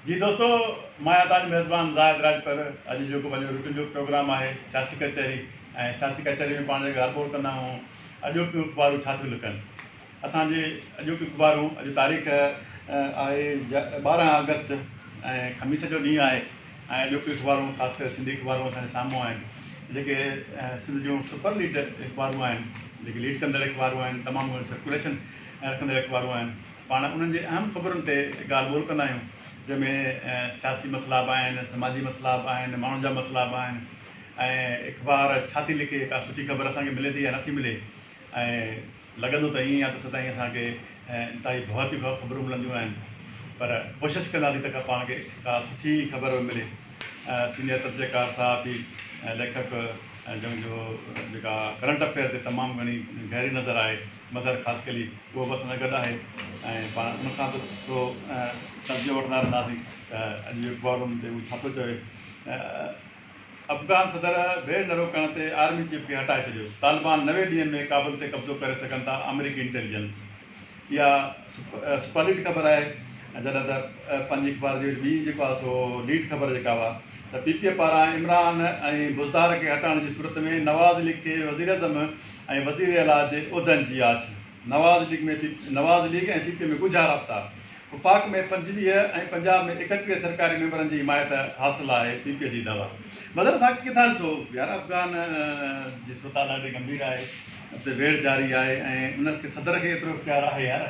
جي دوستو مان آهيان توهانجو ميزبان زاهد راڄپر اڄ جيڪو پنهنجو روٽين جو پروگرام آهي سياسي ڪچهري ۽ سياسي ڪچهري ۾ پاڻ جيڪي ڳالهه ٻولهه ڪندا آهيون اڄوڪيون اخبارون ڇا ٿيون لکن اسانجي اڄوڪيون اخبارون اڄ تاريخ آهي ٻارهن آگسٽ ۽ خميس جو ڏينهن آهي ۽ اڄوڪيون اخبارون خاص ڪري سنڌي اخبارون اسانجي سامهون آهن جيڪي سنڌ جون سپر ليڊ اخبارون آهن جيڪي ليڊ ڪندڙ اخبارون آهن تمام گهڻي سرڪوليشن رکندڙ اخبارون آهن پاڻ انهن جي اهم خبرن تي ڳالهه ٻولهه ڪندا آهيون جنهن ۾ سياسي مسئلا به آهن سماجي مسئلا به آهن ماڻهن جا مسئلا به آهن ۽ اخبار ڇا ٿي لکي ڪا سٺي خبر اسان کي ملي ٿي يا نٿي ملي ۽ لڳندو ته ائين آهي ته سدائين اسان کي انتهائي ڀواتيون خبرون ملنديون آهن پر ڪوشش ڪندا سين ته پاڻ کي ڪا سٺي خبر به ملي سينيئر تجزيڪار صحافي ليکڪ جنهن جو جيڪا ڪرنٽ افيئر تي تمام گهڻي گهري نظر آهي مظهر خاصخيلي اهو به اسان سان گڏ آهي ۽ پاڻ ان کان به ٿورو توجهه وٺندا رهنداسين ته اڄ جو اخبار ان تي هو ڇا ٿو چوي افغان صدر ڀيڙ نه روڪڻ تي آرمي چيف کي هٽائي ڇڏيو طالبان نوي ڏينهن ۾ ڪابل تي قبضو ڪري سگهن ٿا آمريڪي انٽيليجنس اها سپر ليڊ خبر آهي جڏهن ته پنهنجي اخبار جي وچ ٻي جيڪو سو ليڊ خبر جيڪا هئا ته پي پي پاران عمران ۽ بزدار کي هٽائڻ جي صورت ۾ نواز ليگ کي وزيراعظم ۽ وزير اعليٰ جي عهدن جي آڇ، Nawaz league ۾ Nawaz league ۽ P P ۾ ڳجها رابطا، وفاق ۾ پنجويهه ۽ پنجاب ۾ ايڪٽيهه سرڪاري ميمبرن جي حمايت حاصل آهي، پي پي جي دعويٰ. مظهر ساقي ڪٿان ڏسو يار افغان جي صورتحال ڏاڍي ڳنڀير آهي اتي ويڙهه جاري آهي ۽ ان کي صدر کي ايترو اختيار آهي يار.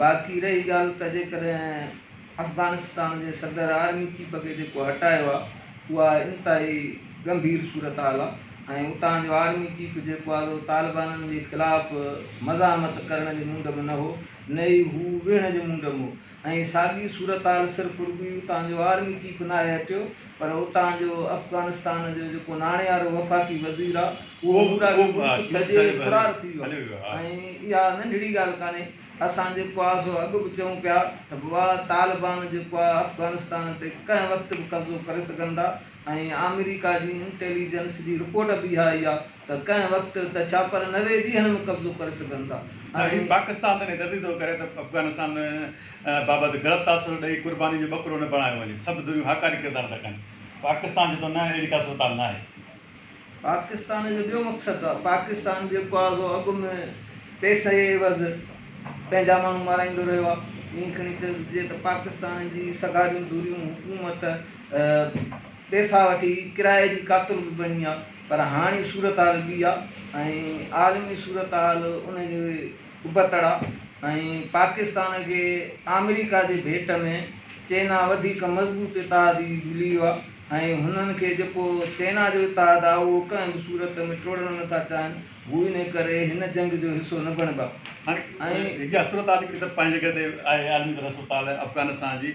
باقي رهي ڳالهه ته جيڪڏهن افغانستان جي صدر آرمي چيف کي جيڪو هٽايو آهي اها انتهائي ڳنڀير صورتحال آهي ۽ اتان جو آرمي چيف جيڪو آهي سو طالبانن جي خلاف مزاحمت ڪرڻ جي موڊ ۾ نه هو نه ئي هو ويهڻ جي موڊ ۾ هو ۽ ساڳي صورتحال صرف رڳو ئي اتان جو آرمي چيف ناهي هٽيو پر اتان جو افغانستان جو جيڪو ناڻيارو وفاقي وزير آ اهو به پورو ملڪ ڇڏي فرار ٿي ويو آهي ۽ اها ننڍڙي ڳالهه ڪانهي اسان جيڪو آ سو اڳ به چئون پيا ته بوا طالبان جيڪو آ افغانستان تي ڪنهن وقت به قبضو ڪري سگهن ٿا ۽ آمريڪا جي انٽيليجنس جي رپورٽ به اها اي آ ته ڪنهن وقت ته ڇا پر نوي ڏينهن ۾ قبضو ڪري سگهن ٿا ۽ پاڪستان تي نيدردي ٿو ڪري ته افغانستان بابت غلط تاثر ڏئي قرباني جو ٻڪرو نه بڻايو وڃي سڀ ڌريون هاڪاري ڪردار ٿا ڪن پاڪستان چي ٿو نه اهڙي ڪا صورتحال ناهي. پاڪستان جو ٻيو مقصد آهي پاڪستان جيڪو آهي سو اڳ ۾ پئسي عيوض پنهنجا ماڻهو مارائيندو رهيو آهي ائين کڻي چئجي ته پاڪستان جي سگهاريون ڌريون حڪومت پئسا وٺي ڪرائي جي قاتل به بڻي آهي پر هاڻي صورتحال ٻي آ ۽ عالمي صورتحال ان جي ابتڙ آ ۽ پاڪستان کي آمريڪا جي ڀيٽ ۾ چينا وڌيڪ مضبوط اتحادي مليو آ ۽ هنن کي جيڪو چينا جو اتحاد آ اهو ڪنهن به صورت ۾ ٽوڙڻ نه ٿا چاهن هو ان ڪري هن جنگ جو حصو نه بڻبا ۽ هاڻي اها صورتحال هڪ طرف پنهنجي جڳهه تي آهي عالمي طرح صورتحال افغانستان جي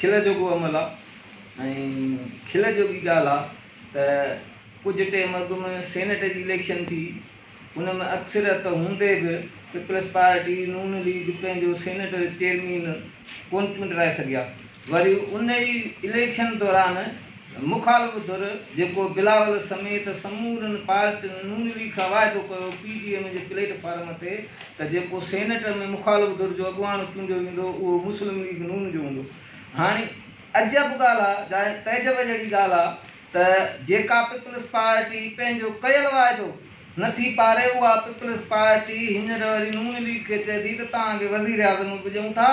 کل جوڳو عمل آ ۽ کل جوڳي ڳالهه آ ته ڪجهه ٽيم اڳ ۾ سينيٽ جي اليڪشن ٿي ان ۾ اڪثريت هوندي به پيپلز پارٽي نون ليگ پنهنجو سينيٽ چيئرمين ڪون چونڊرائي سگهيا وري ان ئي اليڪشن دوران مخالف ڌر جيڪو بلاول سميت سمورن پارٽين ن ليگ کان واعدو ڪيو پي ڊي ايم جي پليٽ فارم تي ته جيڪو سينيٽ ۾ مخالف ڌر جو اڳواڻ چونڊيو ويندو اهو مسلم ليگ ن جو هوندو هاڻي عجب ڳالهه آ جا تعجب جهڙي ڳالهه آ ته جيڪا پيپلز پارٽي پنهنجو ڪيل واعدو نه ٿي پاري اها پيپلز پارٽي هينئر وري ن ليگ کي چئي ٿي ته توهان کي وزير اعظم به ڏيون ٿا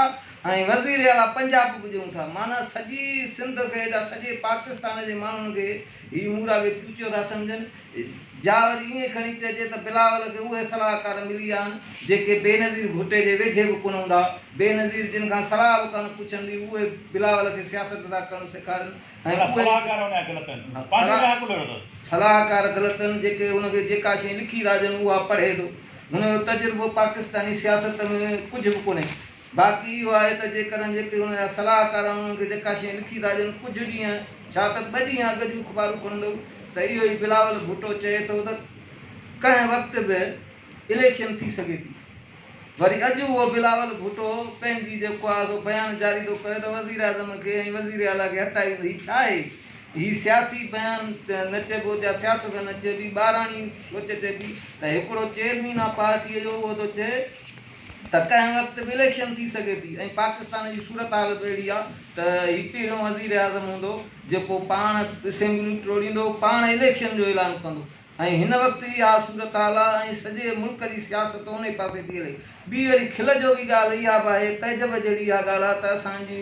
۽ وزير اعليٰ پنجاب گجرون ٿا معنيٰ سڄي سنڌ کي جا سڄي پاڪستان جي ماڻهن کي هي مورا کي چوچو ٿا سمجهن جا وري ائين کڻي چئجي ته بلاول کي اهي صلاحڪار ملي ويا آهن جيڪي بينظير ڀٽي جي ويجهي به ڪونه هوندا بينظير جن کان صلاح به ڪانه پڇن ٿي اهي بلاول کي سياست ٿا ڪرڻ سيکارين ۽ اهي صلاحڪار غلط آهن جيڪي هن کي جيڪا شيء لکي ٿا ڏين اها پڙهي ٿو هن جو تجربو پاڪستاني سياست ۾ ڪجهه به ڪونهي. باقي اهو آهي ته جيڪڏهن جيڪي هن جا صلاحڪار آهن انهن کي جيڪا شيء لکي ٿا ڏين ڪجهه ڏينهن ڇا ته ٻه ڏينهن اڳ جون اخبارون کولندؤ ته اهو ئي بلاول ڀٽو چئي ٿو ته ڪنهن وقت به اليڪشن ٿي سگهي ٿي وري اڄ اهو بلاول ڀٽو پنهنجي جيڪو آهي سو بيان جاري ٿو ڪري ته وزيراعظم کي ۽ وزير اعليٰ کي هٽائي ويندو هي ڇا آهي هي سياسي بيان نه چئبو جا سياست نه چئبي ٻاراڻي سوچ چئبي ته هڪڙو چيئرمين آهي پارٽيء جو اهو ٿو چئي ته ڪنهن وقت به اليڪشن ٿي سگهي ٿي ۽ پاڪستان جي صورتحال به اهڙي آهي ته هي پهريون وزيراعظم هوندو جيڪو پاڻ اسيمبليون ٽوڙيندو، پاڻ اليڪشن جو اعلان ڪندو ۽ هن وقت ئي اها صورتحال آهي ۽ سڄي ملڪ جي سياست انهي پاسي ٿي هلي. ٻي وري کل جوڳي ڳالهه اها به آهي تعجب جهڙي اها ڳالهه آهي ته اسان جي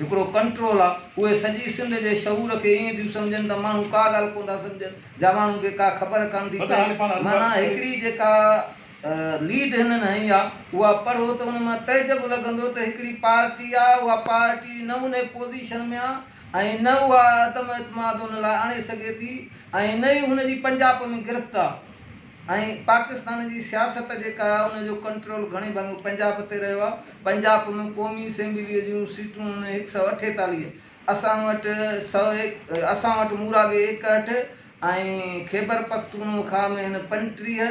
هڪڙو ڪنٽرول آ، اهي سڄي سنڌ جي شعور کي ائين ٿيون سمجهن ته ماڻهو ڪا ڳالهه ڪونه ٿا سمجهن جا ماڻهن کي ڪا خبر ڪانه ٿي پئي معنيٰ هڪڙي جيڪا ليڊ هنن هنئي آ اها پڙهو ته ان مان تعجب لڳندو ته هڪڙي پارٽي آ اها پارٽي نه ان پوزيشن ۾ آ ۽ نه اها عدم اعتماد ان لاء آڻي سگهي ٿي ۽ نه ئي هن جي پنجاپ ۾ گرفت آ. ۽ پاڪستان جي سياست جيڪا آهي ان جو ڪنٽرول گهڻي ڀاڱو پنجاب تي رهيو آهي پنجاب ۾ قومي اسيمبلي جون سيٽون هن هڪ سئو اٺيتاليهه اسان وٽ سئو اسان وٽ موراڳي ايڪهٺ ۽ خيبر پختونخوا ۾ هن پنٽيهه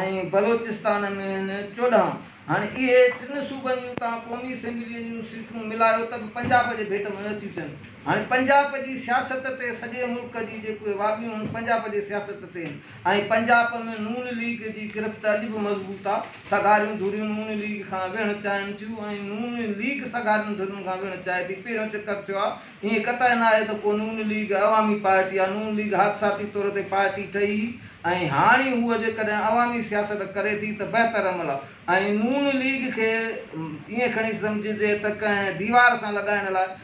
۽ بلوچستان ۾ هن چوڏهن هاڻي اهي ٽن صوبن جون توهان قومي اسيمبلي جون سيٽون ملايو ته به پنجاب جي ڀيٽ ۾ نه ٿيون ٿين هاڻي پنجاب جي سياست تي سڄي ملڪ جي جيڪي واڳيون آهن پنجاب جي سياست تي آهن ۽ پنجاب ۾ نون ليگ جي گرفت اڄ به مضبوط آ، سگهاريون ڌريون نون ليگ کان ويهڻ چاهين ٿيون ۽ نون ليگ سگهارين ڌرين کان ويهڻ چاهي ٿي، پهريون چڪر ٿيو آ، ائين قطع ناهي ته ڪو نون ليگ عوامي پارٽي آ، نون ليگ حادثاتي طور تي پارٽي ٺهي هئي ۽ هاڻي هوء جيڪڏهن عوامي سياست ڪري ٿي ته بهتر عمل آ ۽ نون ليگ کي ائين کڻي سمجهجي ته ڪنهن ديوار سان لڳائڻ لاء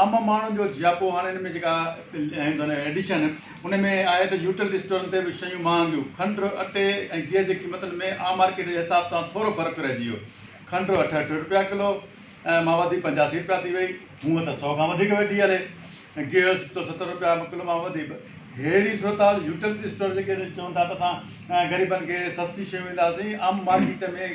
عام ماڻهن جو جياپو هاڻي ان ۾ جيڪا ڪيون ٿا نه ايڊيشن ان ۾ آهي ته يوٽيلٽي اسٽورن تي به شيون مهانگيون کنڊ اٽي ۽ گيهه جي قيمتن ۾ عام مارڪيٽ جي حساب سان ٿورو فرق رهجي ويو کنڊ اٺهٺ رپيا ڪلو ۽ ماوڌي پنجاسي رپيا ٿي وئي هونء ته سؤ کان وڌيڪ ويٺي هلي گيهه سڪ سؤ ستر رپيا ڪلو مان وڌي به ههڙي صورتحال يوٽيلٽي اسٽور جيڪي چون ٿا ته اسان غريبن کي سستي شيون ڏينداسين عام مارڪيٽ ۾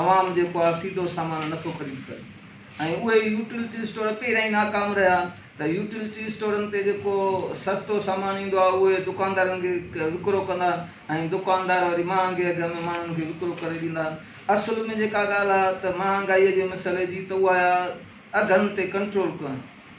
عوام جيڪو آهي سيڌو سامان نه ٿو خريد ڪري ۽ اهي ئي يوٽيلٽي اسٽور پهريائين ناڪام رهيا ته يوٽيلٽي اسٽورن تي جيڪو سستو سامان ايندو آهي اهو ئي دڪاندارن کي وڪرو ڪندا ۽ دڪاندار وري مهانگي اگهه ۾ ماڻهن کي وڪرو ڪري ڏيندا اصل ۾ جيڪا ڳالهه آهي ته مهانگائي جي مسئلي جي ته اها آهي اگهن تي ڪنٽرول ڪرڻ.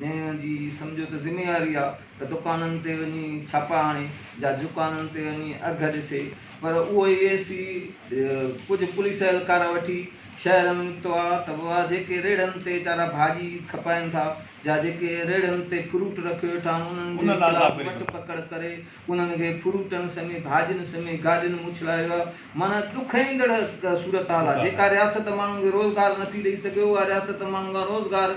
جنهن جي سمجهو ته ذميواري آ ته دڪانن تي وڃي ڇاپا هڻي جا دڪانن تي وڃي اگهه ڏسي پر اهو اي اي سي ڪجهه پوليس اهلڪار وٺي شهر ۾ نڪتو آ ته اها جيڪي ريڙهن تي ويچارا ڀاڄي کپائين ٿا جا جيڪي ريڙهن تي فروٽ رکيو ويٺا آهن انهن جي خلاف وٺ پڪڙ ڪري انهن کي فروٽن سمي ڀاڄين سمي گاڏين موڇلايو ويو آ معنيٰ ڏک ايندڙ صورتحال آ جيڪا رياست ماڻهن کي روزگار نٿي ڏئي سگهي اها رياست ماڻهن کان روزگار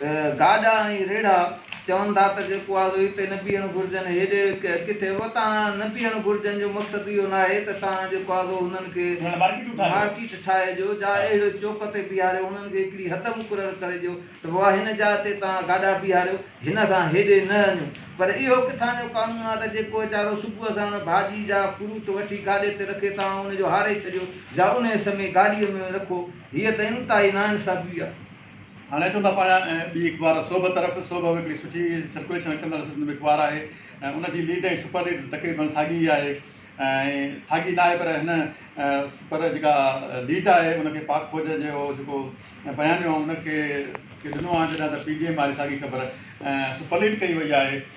ته گاڏا ۽ ريڙها چون ٿا ته جيڪو آزو هتي نه بيهڻ گهرجن هيڏي ڪٿي به تان نه بيهڻ گهرجن جو مقصد اهو ناهي ته تان جيڪو آزو هنن کي مارڪيٽ ٺاهي ڏيو جا اهڙي چوڪ تي بيهاريو هنن کي هڪڙي حد مقرر ڪري ڏيو ته بابا هن جاء تي تان گاڏا بيهاريو هن کان هيڏي نه اڃو پر اهو ڪٿان جو قانون آهي ته جيڪو ويچارو صبح ساڻ ڀاڄي جا فروٽ وٺي گاڏي تي رکي تان ان جو هاري ڇڏيو جا انهي سمي گاڏي ۾ رکو هيء ته انتهائي ناانصافي آهي. هاڻي اچون ٿا پاڻ ٻي اخبار صبح طرف، صبح به هڪڙي سٺي سرڪوليشن رکندڙ سنڌ ۾ اخبار آهي ۽ ان جي ليڊ ۽ سپر ليڊ تقريبن ساڳي ئي آهي ۽ ساڳي نه آهي پر هن سپر جيڪا ليڊ آهي ان کي پاڪ فوج جي اهو جيڪو بيانيو آهي ان کي ڏنو آهي جڏهن ته پي ڊي ايم واري ساڳي خبر سپر ليڊ ڪئي وئي آهي.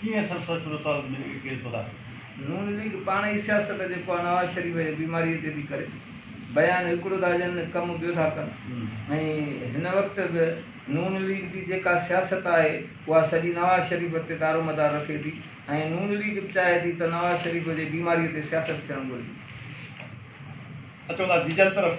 ڪيئن سرسا صورتحال ۾ ڪيس وڌائي؟ نون ليگ پاڻ ئي سياست جيڪو آ نواز شريف جي بيماري تي ٿي ڪري بيان هڪڙو ٿا ڏين ڪم ٻيو ٿا ڪن ۽ هن وقت به نون ليگ جي جيڪا سياست آهي اها سڄي نواز شريف تي دارومدار رکي ٿي ۽ نون ليگ به چاهي ٿي ته نواز شريف جي بيماري تي سياست ٿيڻ گهرجي. اچو ٿا جيجل طرف.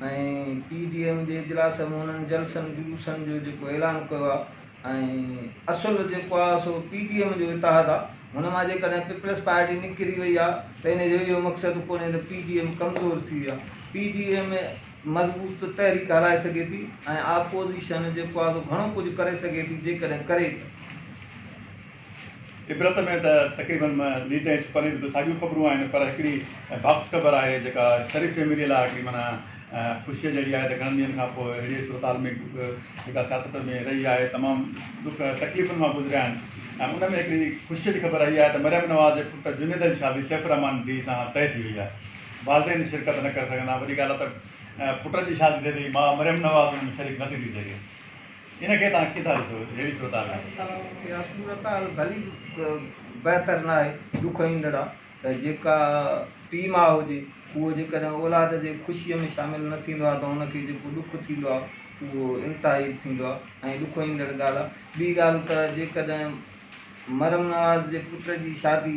۽ پي ڊي ايم جي اجلاس ۾ انهن جلسن جلوسن جو جيڪو اعلان ڪيو آهي ۽ اصل جيڪو آهي سو پي ڊي ايم جو اتحاد آهي هن مان جيڪڏهن پيپلز پارٽي نڪري وئي آهي ته ان جو اهو مقصد ڪونهي ته پي ڊي ايم ڪمزور ٿي وئي آهي پي ڊي ايم مضبوط تحريڪ هلائي سگهي ٿي ۽ آپوزيشن جيڪو آهي سو گهڻو ڪجهه ڪري سگهي ٿي جيڪڏهن ڪري ته عبرت ۾ ته تقريبن نيٽ ۽ سپر نيٽ به ساڳيون خبرون آهن پر هڪڙي باڪس خبر آهي جيڪا شريف فيمليء لاء هڪڙي معنيٰ خوشيء جهڙي آهي ته گهڻن ڏينهن کان پوء اهڙيء صورتحال ۾ جيڪا سياست ۾ رهي آهي تمام ڏک تڪليفن مان گذريا آهن ۽ ان ۾ هڪڙي خوشيء جي خبر اهي آهي ته مريم نواز جي پٽ جنيد جي شادي سيف الرحمان ڊي سان طئي ٿي وئي آهي والدين شرڪت نه ڪري سگهندا وڏي ڳالهه ته پٽ جي شادي ٿئي ٿي ماء مريم نواز ان ۾ شريڪ نه ٿي ٿي سگهي. ان کي توهان ڪيئن ٿا ڏسو جهڙي صورت حال ۾ اسان اها صورت حال ڀلي به بهتر ناهي ڏک ايندڙ آهي ته جيڪا پيء ماء هجي اهو جيڪڏهن اولاد جي خوشيء ۾ شامل نه ٿيندو آهي ته ان کي جيڪو ڏک ٿيندو آهي اهو انتهائي ٿيندو آهي ۽ ڏک ايندڙ ڳالهه آهي ٻي ڳالهه ته جيڪڏهن مرحوم نواز جي پٽ جي شادي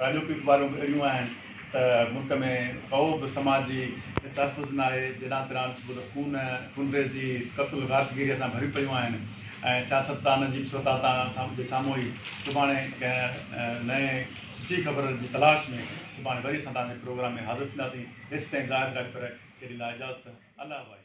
راڄو پي اخبارون به اهڙيون آهن ته ملڪ ۾ ڪو به سماجي تحفظ ناهي، جيڏان تيڏان صبح ته خون، خونريزي، قتل غارتگيريء سان ڀريون پيون آهن ۽ سياستدان عجيب صورتحال جي سامهون ئي سڀاڻي ڪنهن نئين سچي خبر جي تلاش ۾ سڀاڻي وري اسان توهان جي پروگرام ۾ حاضر ٿينداسين، ايستائين زاهد راڄپر کي ڏيندا اجازت، الله وائي.